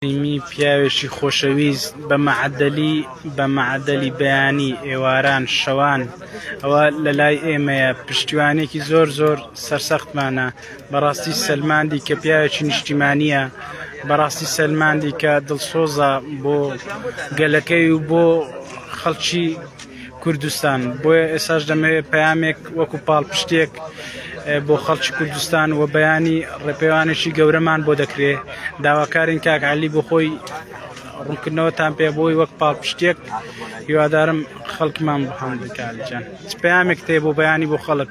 کەریمی پیاوێکی خۆشەویست بە مەعەدەلی بە مەعەدەلی بەیانی ئێواران شەوان ئەوە لە لای ئێمەیە پشتیوانێکی زۆر زۆر سەرسەختمانە بەڕاستی سەلماندی کە پیاوێکی نیشتیمانە بەڕاستی سەلماندی کە دڵسۆزە بۆ گەلەکەی و بۆ خەڵکی کوردستان، بۆیە ئێستاش دەمەوێت پەیامێک وەکو پاڵپشتێک بۆ خەڵکی کوردستان و بەیانی ڕێپێوانێکی گەورەمان بۆ دەکرێ داواکارین کاک علی بۆ خۆی ڕوونکردنەوەتان پێ بۆی وەک پاڵپشتێک هیوادارم خەڵکمان بەهەم بکارجان پامێک تێ بۆ بەیانی بۆ خەڵک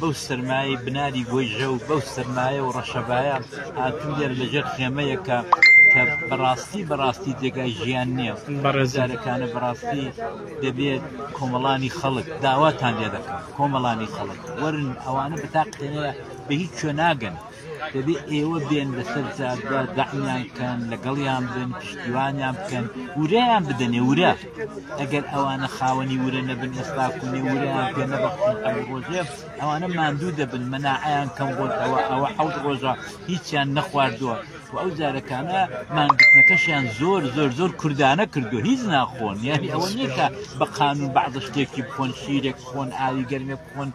بەو سەرمایەی بناری گۆیژە و بەو سەرمایە و ڕەشەبایە هاتوو لێر لەژێر خێمەیەکە کە بەڕاستی بەڕاستی جێگای ژیان نییە بەڕێزارەکانە بەڕاستی دەبێت کۆمەڵانی خەڵک داواتان لێ دەکەم کۆمەڵانی خەڵک وەرن ئەوانە بەتاقێنەیە بە هیچ شوێ ناگەن دەبێت ئێوە بێن لەسەر جادە دەعمیان بکەن لەگەڵیان بن پشتیوانیان بکەن وریان بدەنێ ورە ئەگەر ئەوانە خاوەنی ورە نەبن ئێستا کوێ وریان پێ نەبخشن ئەو ڕۆژێ ئەوانە ماندوو دەبن مەناعیان کەم بۆتەوە ئەوە حەوت ڕۆژە هیچیان نەخواردووە و ئەو جارەکانە مانگرتنەکەشیان زۆر زۆر زۆر کوردانە کردو هیچ ناخۆن یاری ئەوە نیکە بە قانون بەعضە شتێکی بخۆن شیرێک خۆن ئاوی گەرمێک خۆن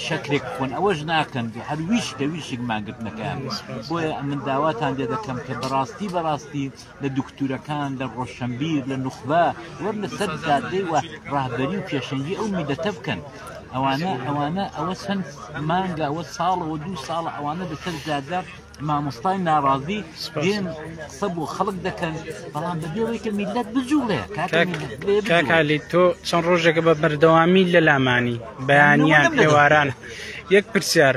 شەکرێک بخۆن ئەوەش ناکەن هەر ویش کە ویشک ماگرتنەکەیان بۆیە ئەمن داواتان دێ دەکەم کە بەڕاستی بەڕاستی لە دکتورەکان لە ڕۆشنبیر لە نوخبە وەر لە سەر دادەی وە ڕاهبەری و پێشەنگی ئەو میدەتە بکەن ئەوانە ئەوانە ئەوە چەند مانگە ئەوە ساڵەوە دوو ساڵە ئەوانە دەسەر زیادە مامۆستای ناڕازی دێن قسە بۆ خەڵک دەکەن بەڵام بەبێەوەی کە میلەت بجوڵێ کاکالی تۆ چەند ڕۆژێکە بە بەردەوامی لە لامانی بەیانیان پێواران یەک پرسیار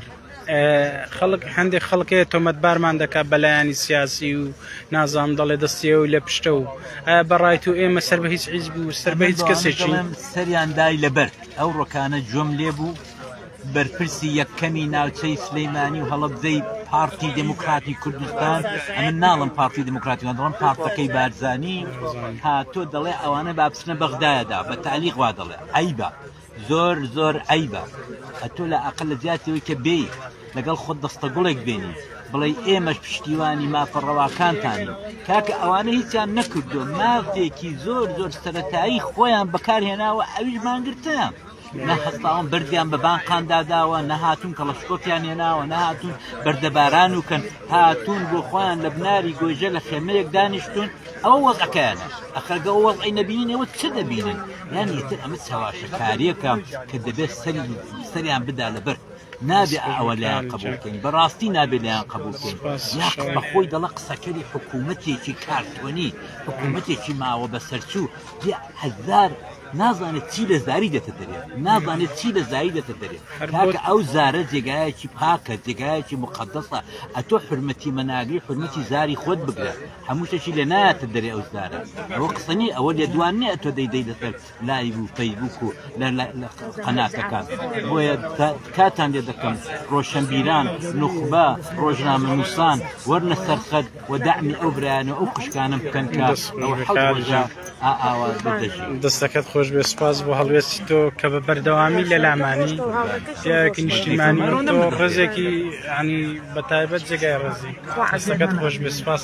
خەڵک هەندێک خەڵکەیە تۆمەتبارمان دەکات بەلایانی سیاسی و نازام دەڵێ دەستیەوە و لە پشتە و بەڕای تو ئێمە سەر بە هیچ حیز بوو سەر بە هیچ کەسێکی سەریان دای لەبەر ئەو ڕۆکانە جۆم لێ بوو بەرپرسی یەکەمی ناوچەی سلیمانی و هەڵەبزەی پارتی دموکراتی کوردستان ئەمن ناڵم پارتی دموکراتی دەڵم پارتەکەی بارزانی هاتۆ دەڵێ ئەوانە بابچنە بەغدایەدا بە تعلیق وا دەڵێ عیبە زۆر زۆر عیبە ئەتۆ لە ئەقل لە جیاتەوەی کە بێ لەگەڵ خۆت دەستە گوڵێک بێنی بڵێ ئێمەش پشتیوانی مافە ڕەواکانتانین کاکە ئەوانە هیچیان نەکردو مافێکی زۆر زۆر سەتایی خۆیان بەکارهێناوە ئەویش مانگرتە. نە هەستاون بردیان بە بانقاندا داوە نەهاتون کەڵەشکۆپیان هێناوە نەهاتون بەردەباران و کەن هاتون بۆ خۆیان لە بناری گۆژە لە خێمەیەک دانیشتون ئەوە وەزەکەیان ئەخەگە وەز ئەی نەبینەوە چ دەبینن یان یتر ئەمە چاواشەکاریەکە کە دەبێت سەری سەریان بدا لە بەر نابێ ئەوە لایان قبولکەین بەڕاستی نابێ لایان قبولکەین یاق بە خۆی دەڵە قسەکەری حکوومەتێکی کارتۆنی حکوومەتێکی ماوە بەسەرچوو هزار نازانێت چی لە زاری دێتە دەرێ نازانێت چی لە زاری دێتە دەرێ کاکە ئەو زارە جێگایەکی پاکە جێگایەکی مقدسە ئەتۆ حرمەتی مەناگری حرمەتی زاری خۆت بگرە هەموو شتێکی لە ناتە دەرێ ئەو زارە ئەوە قسەنی ئەوە لێ دوان نیە ئەتۆ دەیدەی لەسەر لایو و فەیبوک و قەناتەکان بۆیە کاتان لێ دەکەم ڕۆشنبیران نوخبە ڕۆژنامە نووسان وەرنە سەرخەت و دەعمی ئەو برایانە ئەو قشکانم بکەن کە ئاواز دەستەکەت خۆش بێ سپاس بۆ هەڵوێستی تۆ کە بە بەردەوامی لە لامانی سیارێکی نیشتیمانی ڕزێکی ینی بە تایبەت جێگای ڕزی دەستەکەت خۆش بێ سپاس